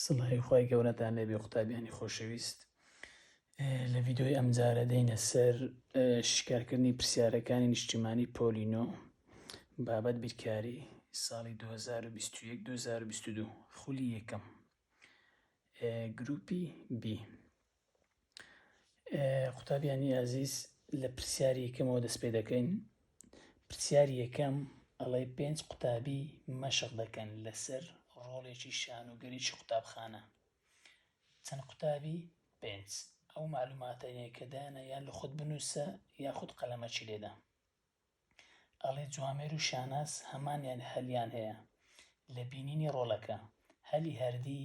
سڵاوی خوای گەورەتان لێبێ قوتابیانی خۆشەویست لە ڤیددیۆی ئەمجارە دەینە سەر شکارکردنی پرسیارەکانی نیشتیمانی پۆلینۆ بابەت بیرکاری ساڵی 2021 2022 خولی یەکەم گروپی بی قوتابیانی ئازیز لە پرسیاری یەکەمەوە دەست پێ دەکەین پرسیاری یەکەم ئەڵێ پێنج قوتابی مەشق دەکەن لەسەر ڕۆڵێکی شان و گەریی قوتابخانە چەند قوتابی پێنج ئەو معلوماتەیە کە دایانە یان لە خۆت بنووسە یاخود قەلەمەکی لێدا ئەڵێ جوامێر و شاناس هەمانیان هەلیان هەیە لە بینینی ڕۆڵەکە هەلی هەردی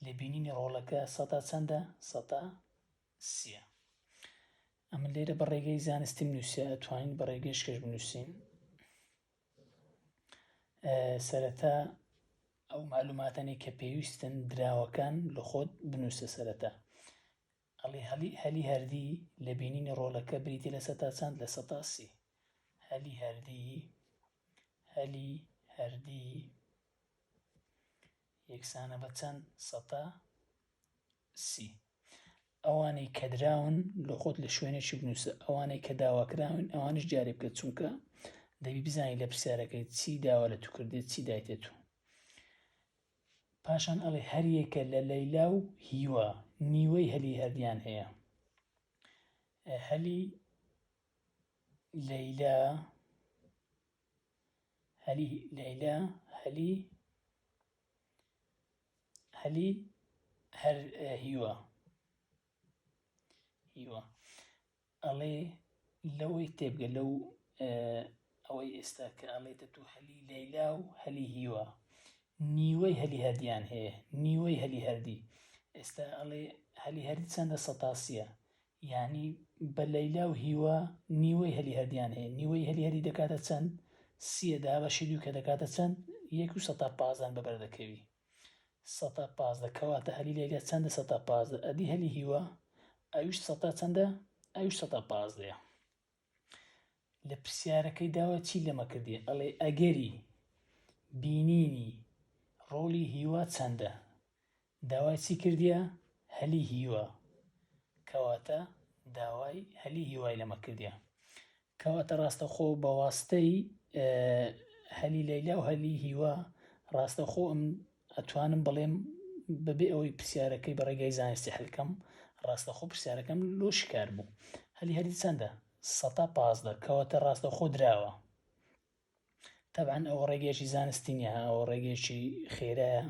لێ بینینی ڕۆڵەکە سەتا چەندە؟ سەتا سیە. ئەمن لێرە بە ڕێگەی زانستیم نووسێ ئەتوانین بە ڕێگەی شکەش بنووسین. سەرەتا ئەو معلوماتانی کە پێویستن دراوەکان لە خۆت بنووسە سەرەتا. ئەڵی هەلی هەلی هەردی لە بینینی ڕۆلەکە بریتی لە سەتا چەند لە سەتاسی هەلی هەردی هەلی هەردی یەکسانە بە چەند سەتا سی. ئەوانەی کە دراون لۆ خۆت لە شوێنێکی بنووسە ئەوانەی کە داواکراون ئەوانش جارێ بکە چونکە دەبی بزانانی لە پرسیارەکەی چی داوا لە تو کردێت چی دایتێت و پاشان ئەڵێ هەریەکە لە لەیلا و هیوا نیوەی هەلی هەردیان هەیە هەلی لەیلا هەلی لەیلا هەلی هەلی هەر هیوا هیوا ئەڵێ لەوەی تێبگە لەو ئەوەی ئێستا کە ئەڵێتە تو هەلی لەیلا و هەلی هیوا نیوەی هەلی هەردیان هەیە نیوەی هەلی هەردی ئێستا ئەڵێ هەلی هەردی چەندە سەتاسیە یانی بە لەیلا و هیوا نیوەی هەلی هەردیان هەیە نیوەی هەلی هەری دەکاتە چەند سیە دابەشی دوو کە دەکاتە چەند یەک و سەتا پازدەن بەبەر دەکەوی سەتا پازدە کەواتە هەلی لەیلا چەندە سەتا پازدە ئەدی هەلی هیوا ئەویش سەتا چەندە ئەویش سەتا پازدەیە لە پرسیارەکەی داوە چی لەمە کردی ئەڵێ ئەگەری بینینی ڕۆڵی هیوا چەندە داوای چی کردیە هەلی هیوا کەواتە داوای هەلی هیوای لەمە کردیە کەواتە ڕاستەخۆ بەواستەی هەلی لەیلا و هەلی هیوا ڕاستەخۆ ئەم ئەتوانم بڵێم بەبێ ئەوەی پرسیارەکەی بە ڕێگای زانستی حلکەم ڕاستەخۆ پرسیارەکەم لۆ شکار بوو هەلی هەلی چەندە سەتا پازدە کەواتە ڕاستەخۆ دراوە تەبان ئەوە ڕێگەیەکی زانستی نیە ئەوە ڕێگەیەکی خێرایە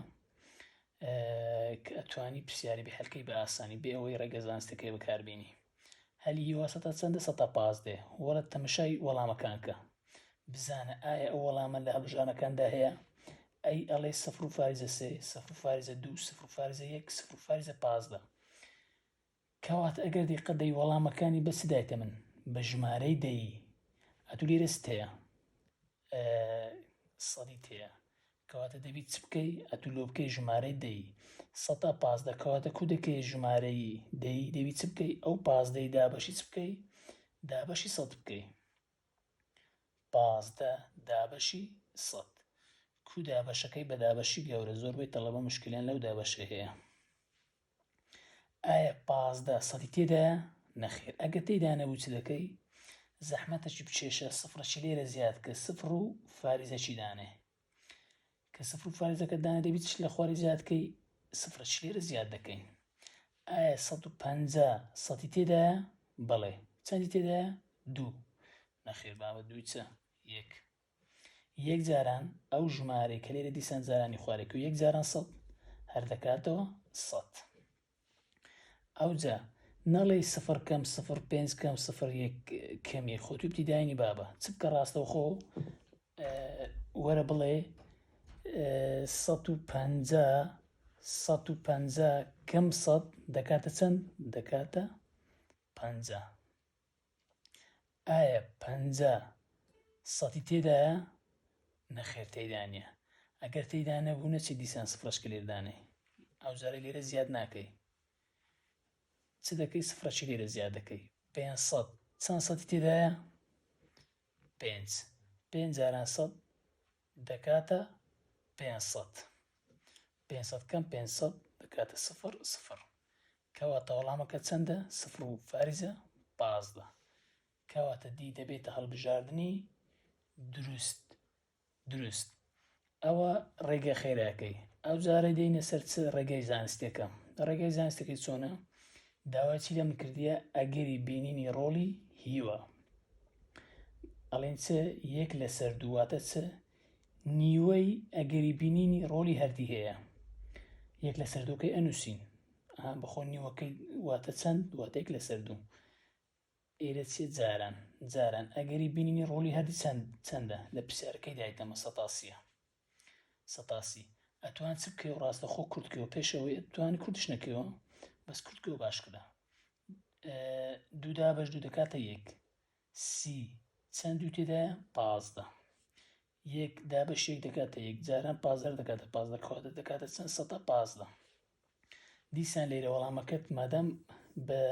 کە ئەتوانی پرسیاری بحلکەی بە ئاسانی بێ ئەوەی ڕێگە زانستەکەی بەکاربیێنی هەلی هیوا سەتا چەندە سەتا پازدە وەرە تەمشای وەڵامەکان کە بزانە ئایا ئەو وەڵامە لە هەڵبژانەکاندا هەیە ئەی ئەڵێ سفر و فارزە سێ سفر فارزە دوو سفر فارزە یەک سفر فارزە پازدە کەوات ئەگەر دیقە دەی وەڵامەکانی بە سدایتە من بە ژمارەی دەی ئەتو لێرە ستەیە سەدی تەیە کەواتە دەبی چ بکەی ئەتو لۆ بکەی ژمارەی دەی سەتا پازدە کەواتە کو دەکەی ژمارەی دەی دەبی چ بکەی ئەو پازدەی دابەشی چ بکەی دابەشی سەد بکەی پازدە دابەشی سەد کو دابەشەکەی بە دابەشی گەورە زۆربەی تەڵەبە مشکلیان لەو دابەشەی هەیە ئایا پازدە سەدی تێدایە؟ نەخێر ئەگەر تێدا نەبوو چ دەکەی؟ زەحمەتەکی بچێشە سفرەکی لێرە زیاد کە سفر و فاریزەکی دانێ کە سفر و فاریزەکە دانێ دەبیت لە خواری زیادکەی سفرەکی لێرە زیاد دەکەین ئایا 150 سەدی تێدایە؟ بەڵێ چەندی تێدایە؟ دوو نەخێر بابە دووی چە یەک یەک جاران ئەو ژمارەی کە لێرە دیسان جارانی خوارێک و یەک جاران سەد هەر دەکاتەوە سەد ئەوجا نەڵێ سفر کەم سفر پێنج کەم سفر یەک کەمی خۆ توی دیداینی بابە چ بکە ڕاستەوخۆ وەرە بڵێ سەد و پەنجا سەد و پەنجا کەم سەد دەکاتە چەند دەکاتە پەنجا ئایا پەنجا سەتی تێدایە؟ نەخێر تێیدا نیە. ئەگەر تێیدا نەبوو نەچی دیسان سفرەچکە لێر دانێی. ئەوجارەی لێرە زیاد ناکەی. چ دەکەی سفرەچی لێرە زیاد دەکەی. پێنج سەد چەند سەتی تێدایە؟ پێنج. پێنج جاران سەد دەکاتە پێنج سەد. پێنج سەد کەم پێنج سەد دەکاتە سفر سفر. کەواتە وەڵامەکە چەندە؟ سفر و فاریزە پازدە. کەواتە دی دەبێتە هەڵبژاردنی دروست دروست. ئەوە ڕێگە خێراکەی ئەو جارە دێنە سەر چ ڕێگای زانستەکە ڕێگای زانستەکەی چۆنە داوای چی لێم کردیە ئەگەری بینینی ڕۆڵی هیوا ئەڵێن چ یەک لەسەر دوو واتە چ نیوەی ئەگەری بینینی ڕۆڵی هەردی هەیە یەک لەسەر دووکەی ئەنووسین بەخۆ نیوەکەی واتە چەند دواتێک لەسەر دوو ئێرە چێ جاران جاران ئەگەری بینینی ڕۆلی هەردی چەند چەندە لە پرسیارەکەی دایتەمە سەتاسیە سەتاسی ئەتوان چ بکەی و ڕاستەخۆ کورد کەوە پێشەوەی ئەتوانی کوردش نەکەوە بەس کورد کەوە باشکرا دوودا بەش دوو دەکاتە یەک سی چەند دوو تێدایە پازدە یەک دابەش یەک دەکاتە یەک جاران پازدار دەکاتە پازدە کاتە دەکاتە چەند سەدا پازدە دیسان لێرە وەڵامەکەت مادام بە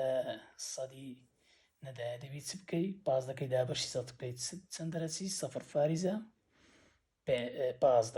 سەدی نەدایە دەبی چ بکەی پازدەکەی دابەشی سەد بکەیت چەند دەرەچی سەفر فاریزە پازدە